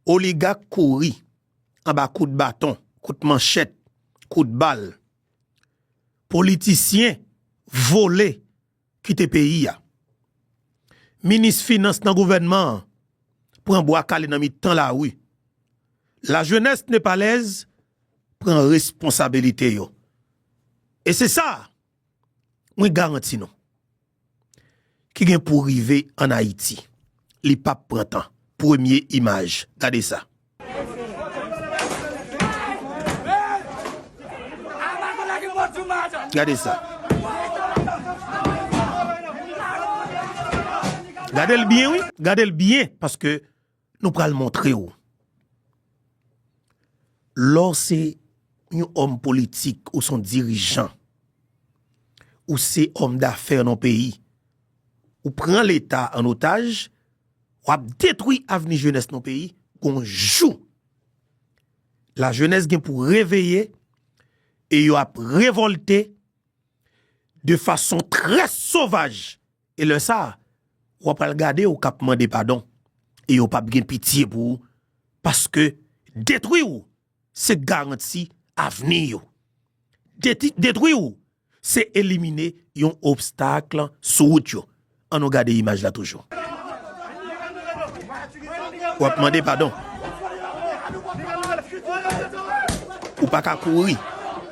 Oligak kouri anba kout baton, kout manchèt, kout bal. Politisyen vole kite peyi a. Minis finans nan gouvènman an pran bwa kale nan mitan lari. Lajenès nepalèz pran responsabilite yo. E se sa! mwen garanti nou, ki gen pou rive an Ayiti, li pa p pran tan. Premye imaj, gade sa. Gade sa. Gade l byen wi, gade l byen, paske Nou pral montre w. Lè w se yon òm politik, ou se yon dirijan, ou se òm dafè nan yon peyi, ou pran leta an otaj, w ap detwi avni jenès nan yon peyi, gon jou la jenès gen pou reveye e yo ap revolte de fason trè sovaj. E lè sa a, w apral gade yo k ap mande padon, e yo pap gen pitye pou ou, paske, detwi ou, se garanti avni yo. Detwi ou, se elimine yon obstak sou wout yo. An nou gade imaj la toujou. W ap mande padon. Ou pa ka kouri.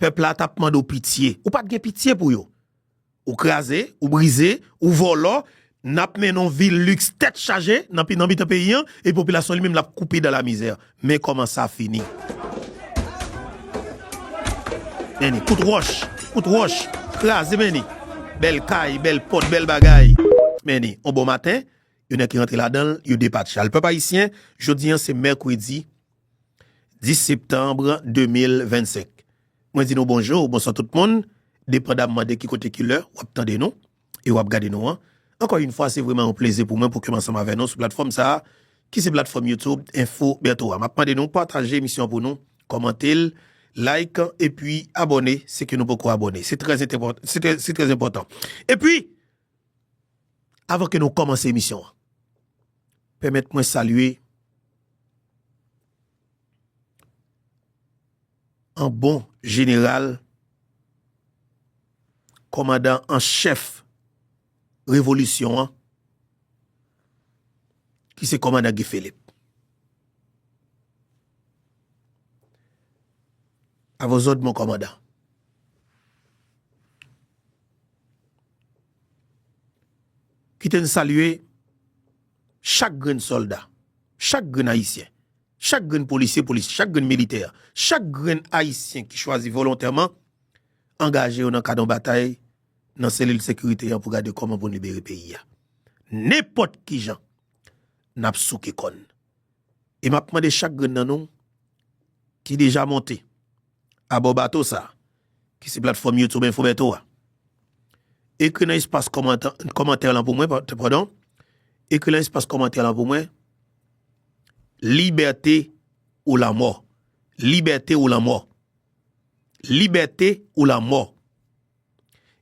Pèp la tap mande w pitye. Ou pat gen pitye pou yo. Ou kraze, ou brize, ou vòlò, nap mennen yon vi luxe tèt chaje nan mitan peyi an e popilasyon li menm lap koupe dan la mizè. Men kòman sa fini. Meni, kout wòch, kout wòch, kraze meni. Bèl kay, bèl pòt, bèl bagay. Meni, yon bon maten, yon nèg ki rantre ladan l, yo depatcha l. Pèp ayisyen, jodi an se mèkredi. 10 septanbre 2025 Mwen di nou bonjou ou bonswa tout moun depandamman de ki kote ki lè w ap tande nou e w ap gade nou an ankò yn fwa se vreman yon plezi pou mwen pou ke m ansanm avè nou sou platfòm sa ki se platfòm youtube enfo Bertho a m ap mande nou pataje emisyon an pou nou kòmante l like epi abòne si ke nou poko abòne se trè se trè enpòtan epi. Avan ke nou kòmanse emisyon an, pèmèt mwen salye an bon jeneral, kòmandan an chèf revolisyon an, ki se kòmandan Guy Philippe. A vos òd, mon kòmandan. Kite n salye chak grenn sòlda, chak grenn ayisyen, chak grenn polisye, polisye, chak grenn militè, chak grenn ayisyen ki chwazi volontèman angaje yo nan kad yon batay nan selil sekirite an pou gade kòman pou n libere peyi a. Nenpòt ki jan, n ap souke kòn. E m ap mande chak grenn nan nou. ki deja monte abò bato sa a, ki se platfòm YouTube Info Bertho a, ekri nan espas kòmantè lan pou mwen, padon, ekri lan espas kòmantè lan pou mwen, Libète ou lanmò, libète ou lanmò, libète ou lanmò,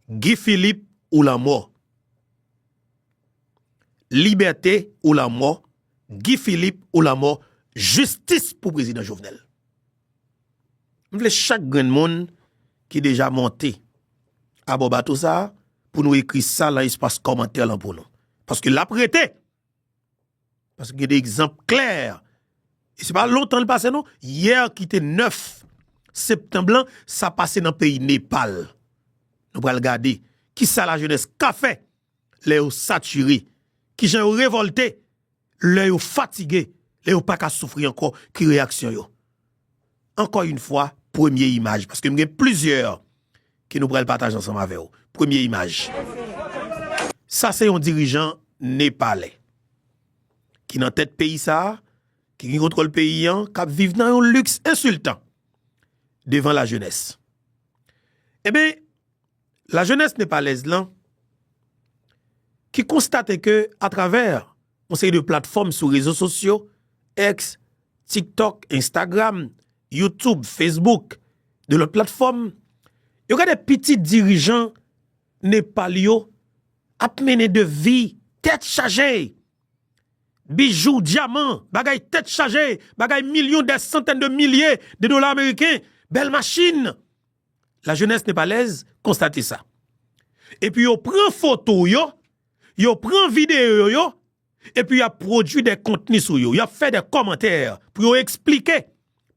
Guy Philippe ou lanmò, libète ou lanmò. Guy Philippe ou lanmò jistis pou prezidan jovenel. M vle chak grenn moun ki deja monte abò bato sa a pou nou ekri sa lan espas kòmantè lan pou nou. Paske l ap rete. Paske gen de egzanp klè. E se pa lontan l pase non. Yè ki te 9 septanm lan sa pase nan peyi Nepal. Nou pral gade ki sa lajenès ka fè lè yo satire, ki jan yo revòlte lè yo fatige, lè yo pa ka soufri ankò, ki reyaksyon yo. Ankò yon fwa, premye imaj, paske m gen plizyè ke nou pral pataje ansanm avè ou. Premye imaj, sa se yon dirijan Nepalè, ki nan tèt peyi sa, ki gen kontwòl peyi an, k ap viv nan yon liks ensiltan, devan lajenès. Eben, La jeunesse Nepalèz lan ki konstate ke a travè yon seri de platfòm sou rezo sosyo, X, TikTok, Instagram, YouTube, Facebook, de lòt platfòm, yo gade pitit dirijan Nepal yo ap mennen de vi tèt chaje, bijou, dyaman, bagay tèt chaje, bagay milyon dè santèn de milye de dola ameriken, bèl machin. La jeunesse Nepalèz konstate sa. Epi yo pran foto yo, yo pran videyo yo, epi y ap pwodui de kontni sou yo, y ap fè de kòmantè pou yo eksplike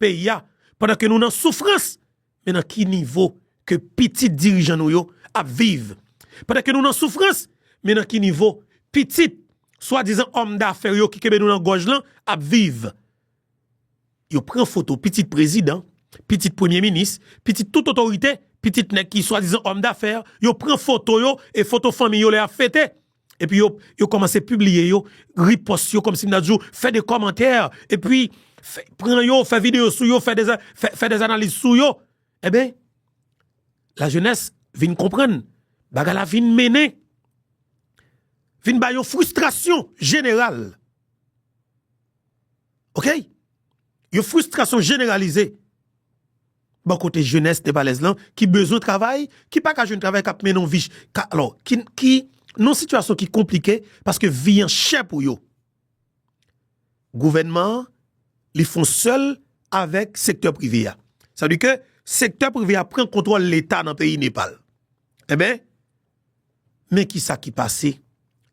peyi a pandan ke nou nan soufrans, men nan ki nivo ke pitit dirijan nou yo ap viv. Pandan ke nou nan soufrans, men nan ki nivo pitit swadizan òm dafè yo ki kenbe nou nan gòj lan ap viv. Yo pran foto pitit prezidan, pitit premye minis, pitit tout otorite, pitit nèg ki swadizan òm dafè, yo pran foto yo e foto fanmi yo lè y ap fete. Epi yo kòmanse pibliye yo, ripòst yo kòmsi m ta di w, fè de kòmantè, epi pran yo, fè videyo sou yo, fè de analiz sou yo. Enben, lajenès vin konprann, bagay la vin mennen, vin bay yon fristrasyon jeneral. Ok Yon fristrasyon jeneralize Bò kote jenès nepalèz lan ki bezwen travay Ki pa ka jwenn travay k ap mennen yon vi Alò ki nan yon sitiyasyon ki konplike Paske vi an chè pou yo Gouvènman an li fon sèl avèk sektè prive a Sa vle di ke sektè prive a pran kontwòl leta nan peyi Nepal Enben Men ki sa ki pase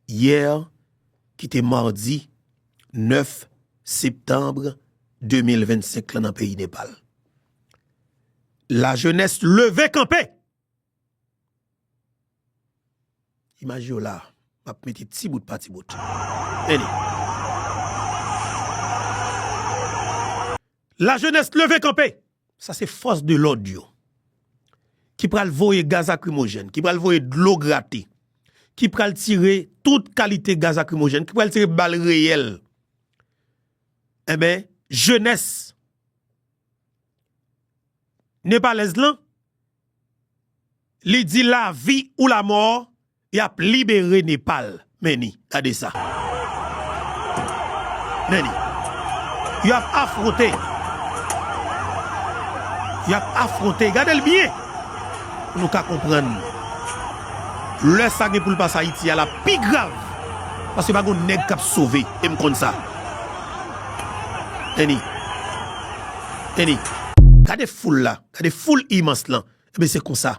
yè ki te mardi 9 septanbre 2025 la nan peyi Nepal. Lajenès leve kanpe! Imaj yo la, m ap mete ti bout pa ti bout. Lajenès leve kanpe! Sa se fòs de lòd yo ki pral voye gaz akrimojèn, ki pral voye dlo grate, ki pral tire tout kalite gaz akrimojèn, ki pral tire bal reyèl. Enben, jenès nepalèz lan, li di lavi ou lamò, Yap libere Nepal meni gade sa meni yo ap afronte yap afronte gade l byen pou nou ka konprann lè sa gen pou l pase ayiti a lap pi grav paske pa gon nèg kap sove e m konn sa meni meni gade foul la gade foul imans lan ebyen se konsa.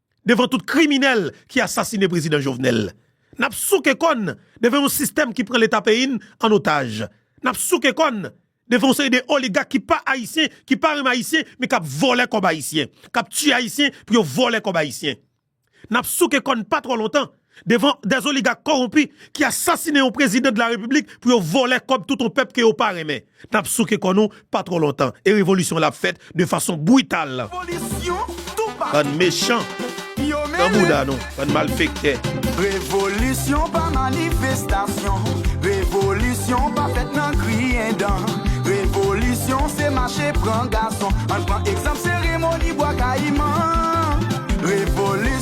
devan tout kriminèl ki asasine prezidan Jovenel. N ap souke kò n devan yon sistèm ki pran leta peyi n an otaj. N ap souke kò n devan yon seri de oligak ki pa ayisyen, ki pa renmen ayisyen men k ap vòlè kòb ayisyen, k ap tiye ayisyen pou yo vòlè kòb ayisyen. N ap souke kò n pa twò lontan. devan des oligak koronpi ki asasine yon prezidan de la repiblik pou yo volè kob tout yon pèp ke yo pa renmen nap souke kò nou pa tro lontan e revolisyon la ap fèt de fason brital bann mechan nan bouda nou bann malfektè. Revolisyon pa manifestasyon Revolisyon pa fèt nan griyen dan Revolisyon se mache pran gason Ann pran egzanp seremoni Bwa Kayiman Revolisyon.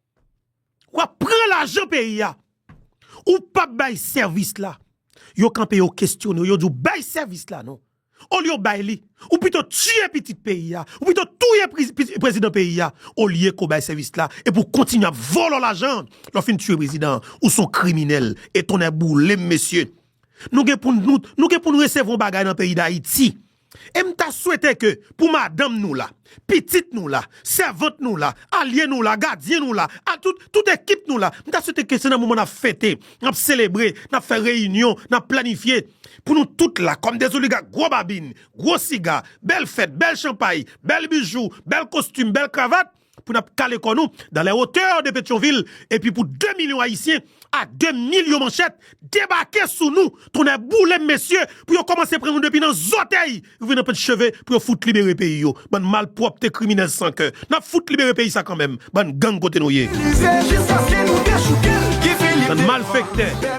Wap pran lajan peyi ya. Ou pap bay sèvis la. Yo kanpe yo kestyone w. Yo di w bay sèvis la non. Olye w bay li. Ou pito tiye pitit peyi ya. Ou pito touye prezidan peyi ya. Olye ke w bay sèvis la. Epi w kontinye ap volo lajan. Lè w fin tiye prezidan an. Ou son kriminel. E tonnè boule m mesye. Nou gen pou nou resevwa yon bagay nan peyi dayiti. E m ta swete ke pou madanm nou la, pitit nou la, sèvant nou la, alye nou la, gadyen nou la, a tout, tout ekip nou la, m ta swete ke se nan moman nap fete, nap selebre, nap fè reyinyon, nap planifye, pou nou tout la, kòm de zoligak gwo babin, gwo siga, bèl fèt, bèl chanpay, bèl bijou, bèl kostim, bèl kravat, pou nap kale kò nou dans les hauteurs de Petyonvil epi pou 2 milyon ayisyen a 2 milyon manchèt debake sou nou tonnè boulem mesye pou yo kòmanse pran nou depi nan zòtèy rive nan pent cheve pou yo fout libere peyi yo bann malpwòpte kriminèl san kè nap fout libere peyi sa kanmenm bann gang kote nou ye bann malfèktè.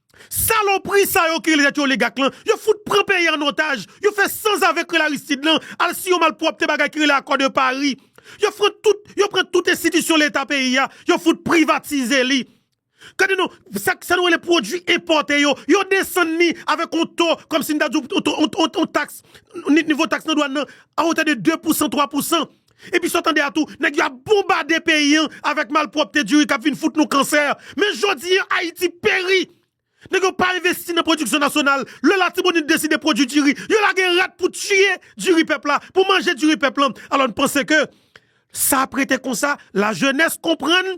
Salopri sa yo ki rele tèt yo oligak lan, yo fout pran peyi an otaj, yo fè sanzave k rele Aristide lan al siyen yon malpwòpte bagay ki rele Accord de Paris. Yo fran tout, yo pran tout enstitisyon leta peyi a, yo fout privatize li. Gade non, sa sa nou rele pwodui enpòte yo, yo desann ni avèk yon to kòmsi n ta di w yon to yon to yon taks, nivo taks nan dwàn nan a otè de 2 pousan, 3 pousan. Epi sa w tande a tou, nèg yo ap bonbade peyi an avèk malpwòpte diri k ap vin fout nou kansè. Men jodi an Ayiti peri! Nèg yo pa envesti nan pwodiksyon nasyonal. Lè Latibonit deside pwodui diri, yo lage rat pou tiye diri pèp la, pou manje diri pèp lan. Alò n panse ke sa ap rete konsa? Lajenès konprann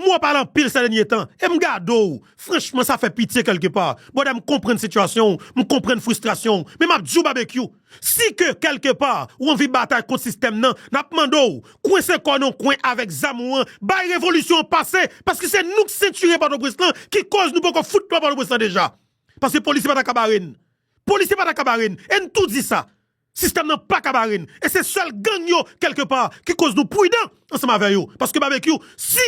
M wè w pale anpil sè dènye tan e m gade w franchman sa fè pitye kèlke pa. Brother m konprann sitiyasyon w, m konprann fristrasyon w men m ap di w Babekyou si ke kèlke pa w anvi batay kont sistèm nan n ap mande w kwense kò w nan yon kwen avèk zam ou an bay revolisyon an pase paske se nou k sentire Pòtoprens lan ki kòz nou poko fout lwa Pòtoprens lan deja paske polisye pa ta ka bare n polisye pa ta ka bare n e n tou di sa. Sistèm nan paka bare n e se sèl gang yo kèlke pa ki koz nou prudan ansanm avè yo paske Babekyou si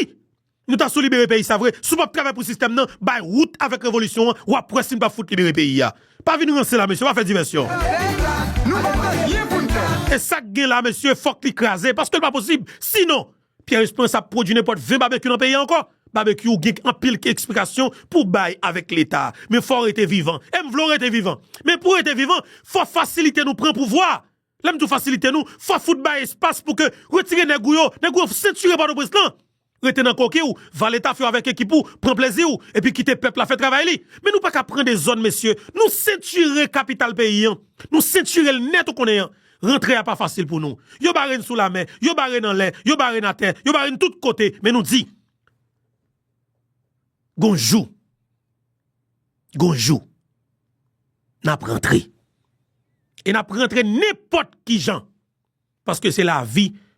Nou ta sou libere peyi sa vre si w pap travay pou sistèm nan bay wout avèk revolisyon an wap wè si n pap fout libere peyi a pa vin ranse la mesye pa fè divèsyon e sak gen la mesye fòk li kraze paske l pa posib sinon. Pierre Esperance ap pwodwi nenpòt 20 Barbecue nan peyi a ankò? Barbecue ou gen anpil eksplikasyon pou w bay avèk leta a, men fò w rete vivan. E m vle w rete vivan. Men pou w rete vivan, fò fasilite nou pran pouvwa a. Lè m di w fasilite nou, fò fout bay espas pou ke retire nèg ou yo, nèg ou yo sentire Pòtoprens lan. Rete nan koki w, va leta fè w avèk ekip ou, pran plezi w, epi kite pèp la fè travay li. Men nou pa ka pran de zòn mesye, nou sentire kapital peyi an. Nou sentire l nèt ou konnen an. Rantre a pa fasil pou nou. Yo bare n sou lamè, yo bare n anlè, yo bare n atè, yo bare n tout kote, men nou di, Gon jou, gon jou, n ap rantre. E n ap rantre nenpòt ki jan, paske se lavi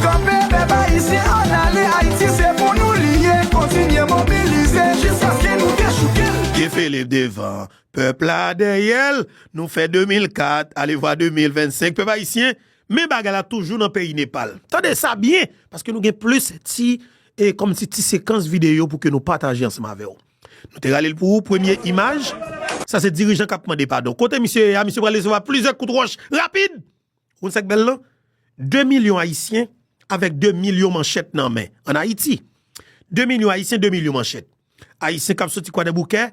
Kanpe pèp ayisyen ann ale Ayiti se pou nou li ye kontinye mobilize jiskaske nou dechouke l. Gefele devan, pèp la dèyè l Nou fè 2004, alevwa 2025 Pèp ayisyen, men bagay la toujou nan peyi Nepal Tande sa byen, paske nou gen plis ti e kòmsi ti sekans videyo pou ke nou pataje ansanm avè w Nou te rale l pou ou Premye imaj, sa se dirijan k ap mande padon Kote misye ye a? Misye pral resevwa plizyè kout wòch rapid! Ou konn sa k bèl lan? 2 milyon Ayisyen avèk 2 milyon manchèt nan men, an Ayiti. 2 milyon Ayisyen, 2 milyon manchèt. Ayisyen k ap soti Kwadèboukè,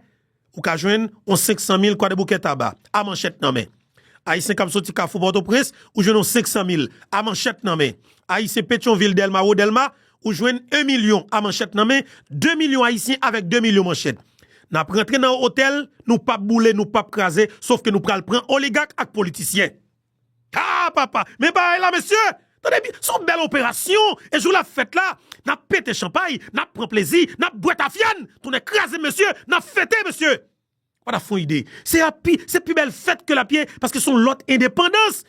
ou ka jwenn yon 500 mil Kwadèboukè Taba, a manchèt nan men. Ayisyen k ap soti Kafou Pòtoprens, ou jwenn yon 500 mil, a manchèt nan men. Ayisyen Petyonvil, Dèlma, Wo Dèlma, ou jwenn 1 milyon, a manchèt nan men. 2 milyon Ayisyen avèk 2 milyon manchèt. N ap rantre nan otèl, nou p ap boule, nou p ap kraze, sof ke nou pral pran oligak ak politisyen. Haa papa men bagay la mesye tande byen son bèl operasyon e jou lap fèt la nap pete chanpay nap pran plezi nap bwè tafya n tonnè krazem mesye nap fete mesye ou pata fon ide se ap pi se pi bèl fèt ke lap ye paske son lòt endepandans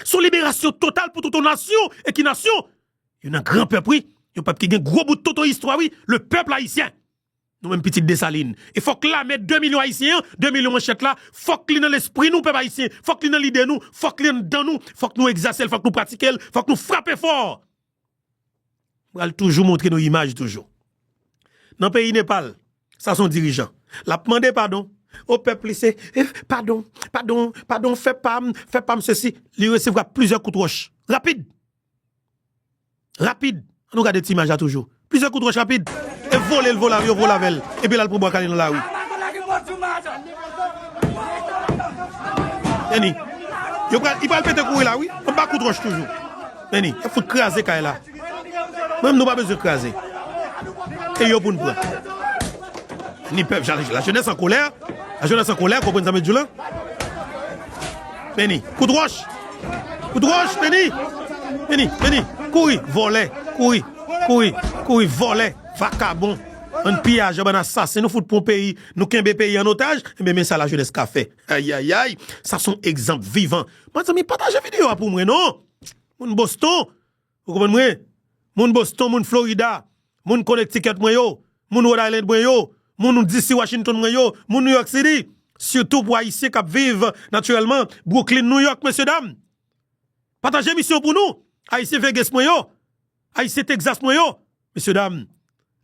son liberasyon total pou tout yon nasyon e ki nasyon yon nan gran pèp wi yon pèp ki gen gwo bout tonton istwa wi le pèp ayisyen. Nou menm pitit Dessalines. E fòk lame 2 milyon ayisyen an, 2 milyon manchèt la, fòk li nan lespri nou pèp ayisyen, fòk li nan lide nou, fòk li anndan nou, fòk nou egzase l, fòk nou pratike l, fòk nou frape fò! M pral toujou montre nou imaj toujou. Nan peyi Nepal, sa son dirijan. L ap mande padon o pèp li, se padon, padon, padon, fè pa m, fè pa m sesi. Li resevwa plizyè kout wòch. Rapid! Rapid, an nou gade ti imaj la toujou. Plizyè kout wòch rapid, e vole l vole avè yo vole avè l, epi l al pran Bwa Kale nan lari. Annie, yo pral, li pral pete kouri la wi, anba kout wòch toujou. Annie, y ap fout kraze kay la. Mwen menm nou pa bezwen kraze. E yo pou n pran. Annie, pèp, la jenès an kolè, la jenès an kolè, konprann sa m ap di w la? Annie, kout wòch. Ou droch vini vini vini kouri volè kouri kouri kouri volè vakabon bann piyajè bann asasen nou fout pwan peyi nou kenbe peyi an otaj enben men sa la jenès ka fè ayayay sa son egzanp vivan mezanmi pataje video a pou mwen non moun boston. Ou konprann mwen? Moun Boston, moun Florida, moun Connecticut mwen yo, moun Rhode Island mwen yo, moun DC Washington mwen yo, moun New York City, sitou pou Ayisyen k ap viv natirèlman Brooklyn, New York, mesye dam! Pataje emisyon pou nou! Ayisyen Vegas mwen yo, Ayisyen Texas mwen yo, mesye dam!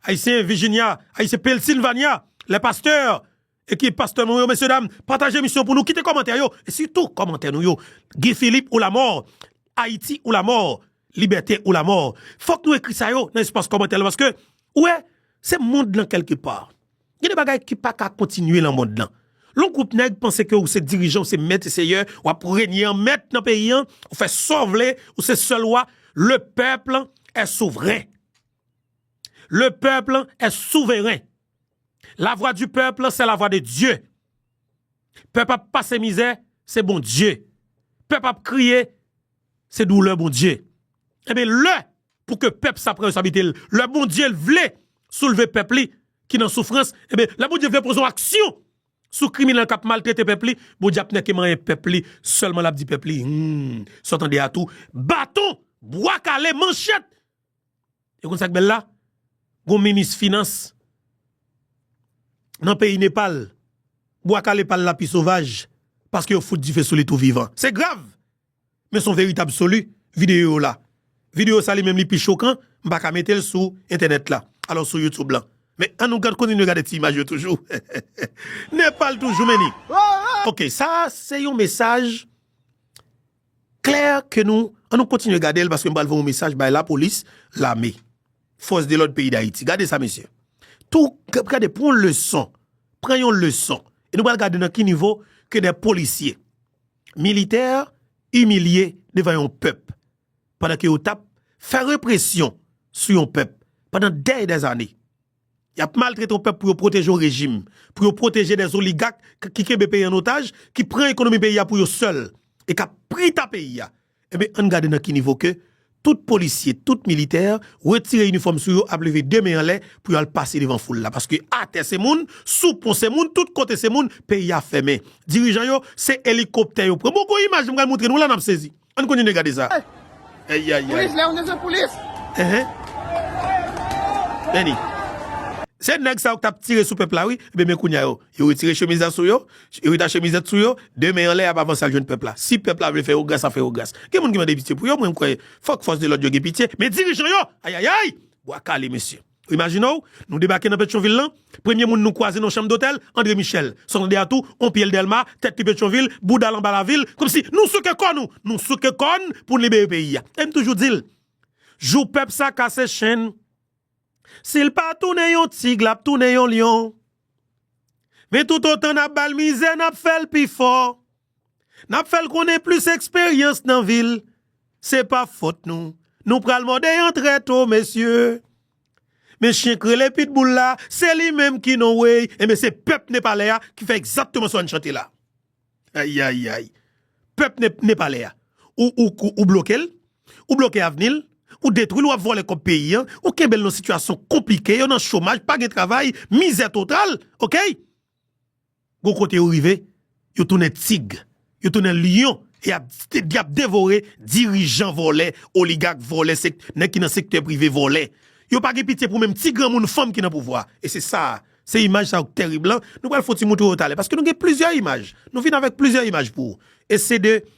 Ayisyen Virginia, Ayisyen Pennsylvania, les pasteurs, Ekip pastè nou yo mesye dam pataje misyon pou nou kite kòmantè yo e sitou kòmantè nou yo Guy Philippe ou lamò Ayiti ou lamò Libète ou lamò fòk nou ekri sa yo nan espas kòmantè la paske ou wè se mond lan kèlke pa gen de bagay ki pa ka kontinye lan mond lan lon gwoup nèg panse ke ou se dirijan ou se mèt e seyè w ap renye an mèt nan peyi an ou fè sa w vle ou se sèl wa le pèp lan è souvren le pèp lan è souveren. La vwa di pèp se la vwa de Dye. Pèp ap pase mizè, se bon Dye. Pèp ap kriye, se doulè bon Dye. Ebe lè pou ke pèp sa pran responsablite l, lè bon Dye l vle soulve pèp li ki nan soufrans, ebe lè bon Dye vle poze yon aksyon sou kriminèl k ap maltrete pèp li, bon Dye ap nèke manyen pèp li, sèlman l ap di pèp li, Hum, sa w tande a tou, baton, bwa kale, manchèt! E konn sak bèl la? Gon minis finans nan peyi Nepal, bwa kale pal la pi sovaj paske yo fout dife sou li tou vivan. Se grav! Men son verite absoli videyo yo la. Videyo sa li menm li pi chokan, m pa ka mete l sou entènèt la, alò sou YouTube lan. Men an nou kontinye gade ti imaj yo toujou. Nepal toujou men ni. Ok sa se yon mesaj Klè ke nou, an nou kontinye gade l paske m pral voye yon mesaj bay lapolis, lame, fòs de lòd peyi Dayiti. Gade sa mesye. Tou, gade pran yon leson, pran yon leson. E nou pral gade nan ki nivo ke de polisye, militè imilye devan yon pèp pandan ke yo tap fè represyon sou yon pèp pandan dè e dè zane. Yap maltrete yon pèp pou yo pwoteje yon rejim, pou yo pwoteje des oligak ki kenbe peyi an otaj, ki pran ekonomi peyi a pou yo sèl e kap prita peyi a. Enben ann gade nan ki nivo ke tout polisye, tout militè retire inifòm sou yo ap leve 2 men anlè pou yo al pase devan foul la paske atè se moun, sou pon se moun, tout kote se moun, peyi a fèmen. Dirijan yo se elikoptè yo pran. Bon gon imaj m pral moutre nou la nap sezi. Ann kontinye gade sa. Ayayay. Any. Se nèg sa yo ki tap tire sou pèp la wi. Ebyen men kounya yo. Yo retire chemiz la sou yo. Yo retache mizèt sou yo. De men anlè yap avanse al jwenn pèp la. Si pèp la vle fè yo gras ap fè yo gras. Gen moun ki mande pitye pou yo mwen m kwè. Fòk fòs de lòd yo gen pitye. Men dirijan yo. Ayayay. Bwa kale mesye. Imajine w, nou debake nan Petyonvil lan, premye moun nou kwaze nan yon chanm dotèl, Andre Michel. San tande atou, on pye l Dèlma, tèt li Petyonvil, bouda l anba lavil, kòmsi nou souke kò nou! Nou souke kò n pou n libere peyi a. E m toujou di l, jou pèp sa kase chenn, si l pa tounen yon tig l ap tounen yon lyon. Men toutotan n ap ba l mizè, n ap fè l pi fò. Nap fèl konnen plis eksperyans nan vil se pa fòt nou, nou pral mòde yon trè to mesye, men chyen k rele pitbull la se li menm ki non wey enben se pèp nepalè a ki fè ekzakteman sa w chante la ayayayy pèp nepalè a ou bloke l ou bloke avni l ou detwi l wap vòlè kòb peyi an ou kenbe l nan sitiyasyon konplike yo nan chomaj pa gen travay mizè total ok. Gon kote yo rive, yo tounen tig, yo tounen lyon e y ap devore dirijan vòlè, oligak vòlè, nèg ki nan sektè prive vòlè. Yo pa gen pitye pou menm ti granmoun fanm ki nan pouvwa a. E se sa a, se imaj sa yo k tèrib lan. Nou pral fouti montre yo talè paske nou gen plizyè imaj. Nou vin avèk plizyè imaj pou ou. E se de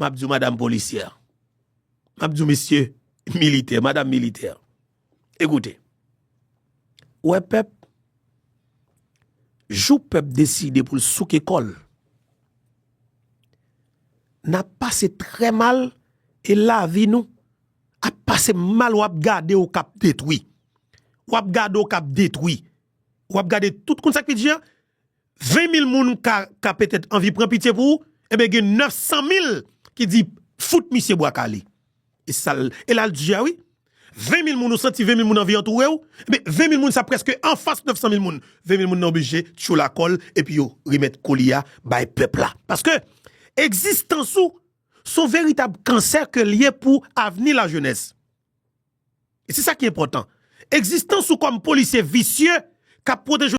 M ap di w madam polisyè, m ap di w mesye militè, madam militè, ekoute, ou wè pèp, jou pèp deside pou l souke kò l, n ap pase trè mal e lavi nou ap pase mal w ap gade w k ap detwi, w ap gade w k ap detwi, w ap gade tout, konn sa k pi di a? 20 mil moun ka petèt anvi pran pitye pou ou, enben gen 900 mil ki di fout misye bwa kale. E sa l, e la l di a wi. 20 mil moun ou santi 20 mil moun anvi antoure ou, enben 20 mil moun sa prèske anfas 900 mil moun. 20 mil moun nan oblije tchoul a kòl epi yo remèt koli a bay pèp la. Paske egzistans ou s on veritab kansè ke l ye pou avni lajenès. E se sa ki enpòtan. Egzistans ou kòm polisye visye k ap pwoteje.